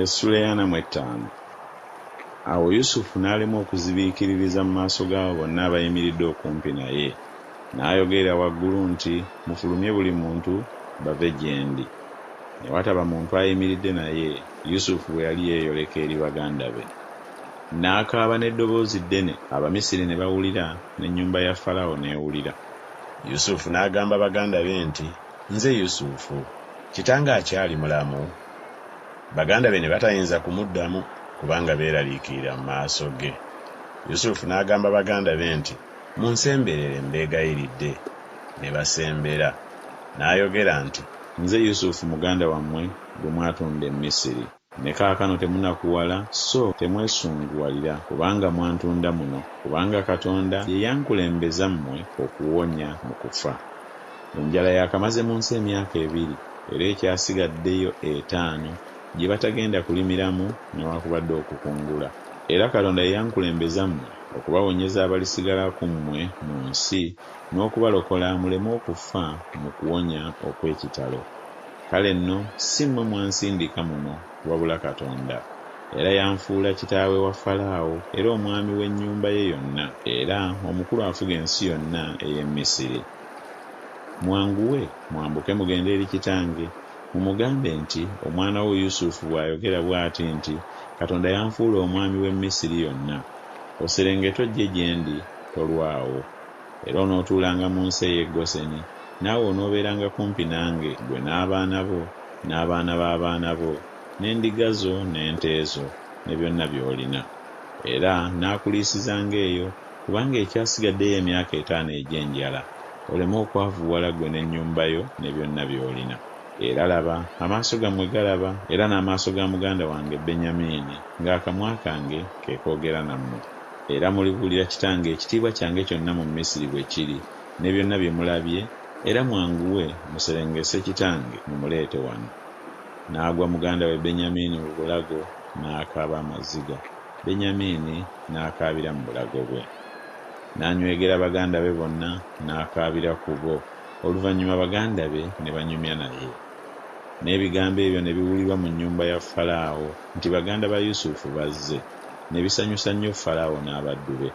Essula eyana mu ettaano Awo Yusufu n'alemwa okuzibiikiririza mu maaso g'abo bonna abayimiridde okumpi naye, n'ayogerera waggulu nti, Mufulumye buli muntu, bave gye ndi. Ne wataba muntu ayimiridde naye, Yusufu bwe yali yeeyoleka eri baganda be. N'akaaba n'eddoboozi ddene, Abamisiri ne bawulira, n'ennyumba ya Falaawo n'ewulira. Yusufu n'agamba baganda be nti, Nze Yusufu. Kitange akyali mulamu? Baganda be ne batayinza kumuddamu kubanga beeraliikirira mu maaso ge. Yusufu n'agamba baganda be nti, Munsemberere mbeegayiridde. Ne basembera. N'ayogera nti. Nze Yusufu muganda wammwe gwe mwatunda e Misiri. Ne kaakano temunakuwala, so temwesunguwalira kubanga mwantunda muno, kubanga Katonda ye yankulembeza mmwe okuwonya mu kufa. Enjala yakamaze mu nsi emyaka ebiri era ekyasigaddeyo etaano gye batagenda kulimiramu newakubadde okukungula. Era Katonda ye yankulembeza mmwe okubawonyeza abalisigala ku mmwe mu nsi n'okubalokola muleme okufa mu kuwonya okw'ekitalo. Kale nno si mmwe mwansindika muno wabula Katonda. Era yanfuula kitaawe wa Falaawo era omwami w'ennyumba ye yonna, era omukulu afuga ensi yonna ey'e Misiri. Mwanguwe, mwambuke mugende eri kitange, mumugambe nti, Omwana wo Yusufu bw'ayogera bw'ati nti, Katonda yanfuula omwami w'e Misiri yonna. Oserengete ojje gye ndi, tolwawo. Era onootuulanga mu nsi ey'e Goseni, naawe onoobeeranga kumpi nange, ggwe n'abaana bo, n'abaana b'abaana bo, n'endiga zo, n'ente zo, ne byonna by'olina. Era nnaakuliisizanga eyo. Kubanga ekyasigadde y'emyaka etaano egy'enjala, oleme okwavuwala ggwe n'ennyumba yo ne byonna by'olina. Era laba, amaaso gammwe galaba, era n'amaaso ga muganda wange Benyamiini, ng'akamwa kange ke koogera nammwe. Era mulibuulira kitange ekitiibwa kyange kyonna mu Misiri bwe kiri, ne byonna bye mulabye, era mwanguwe muserengese kitange mumuleete wano. N'agwa muganda we Benyamiini mu bulago, n'akaaba amaziga. Benyamiini n'akaabira mu bulago bwe, n'anywegera baganda be bonna, n'akaabira ku bo. Oluvannyuma baganda be ne banyumya naye. N'ebigambo ebyo ne biwulirwa mu nnyumba ya Falaawo nti baganda ba Yusufu bazze, ne bisanyusa nnyo Falaawo n'abaddu be.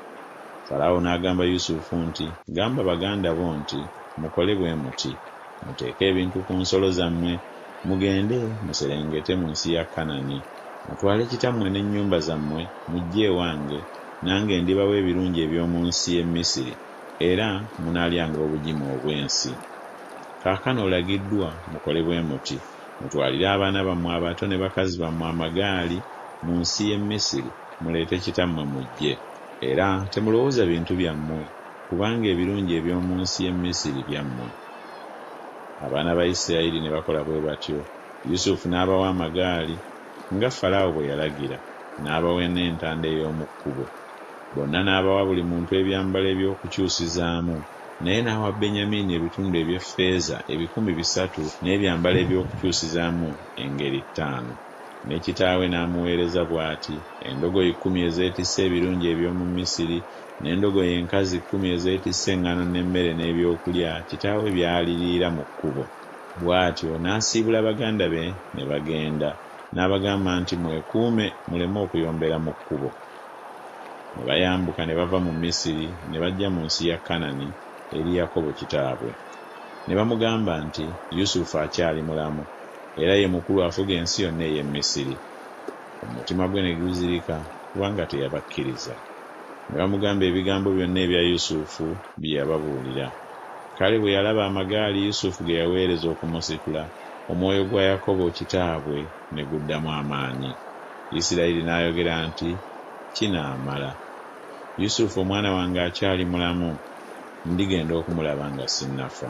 Falaawo n'agamba Yusufu nti, Gamba baganda bo nti, Mukole bwe muti. Muteeke ebintu ku nsolo zammwe, mugende muserengete mu nsi ya Kanani. Mutwale kitammwe n'ennyumba zammwe mujje ewange, nange ndibawa ebirungi eby'omu nsi y'e Misiri, era munaalyanga obugimu obw'ensi. Kaakano olagiddwa mukole bwe muti, Mutwalire abaana bammwe abato ne bakazi bammwe amagaali mu nsi y'e Misiri, muleete kitammwe mujje. Era temulowooza bintu byammwe. Kubanga ebirungi eby'omu nsi y'e Misiri byammwe. Abaana ba Isirayiri ne bakola bwe batyo. Yusufu n'abawa amagaali, nga Falaawo bwe yalagira, n'abawa n'entanda ey'omu kkubo. Bonna n'abawa buli muntu ebyambalo eby'okukyusizaamu, naye n'awa Benyamiini ebitundu eby'effeeza ebikumi bisatu n'ebyambalo eby'okukyusizaamu engeri ttaano. Ne kitaawe n'amuweereza bw'ati, endogoyi kkumi ezeetisse ebirungi eby'omu Misiri, n'endogoyi enkazi kkumi ezeetisse eŋŋano n'emmere n'ebyokulya, kitaawe by'aliriira mu kkubo. Bw'atyo n'asiibula baganda be ne bagenda. N'abagamba nti, Mwekuume muleme okuyombera mu kkubo. Ne bayambuka ne bava mu Misiri ne bajja mu nsi ya Kanani eri Yakobo kitaabwe. Ne bamugamba nti, Yusufu akyali mulamu. era ye mukulu afuga ensi yonna ey'e Misiri. Omutima gwe ne guzirika, kubanga teyabakkiriza. Ne bamugamba ebigambo byonna ebya Yusufu bye yababuulira. Kale bwe yalaba amagaali Yusufu ge yaweereza okumusitula, omwoyo gwa Yakobo kitaabwe ne guddamu amaanyi. Isirayiri n'ayogera nti, Kinaamala. Yusufu omwana wange akyali mulamu, ndigenda okumulaba nga sinnafa.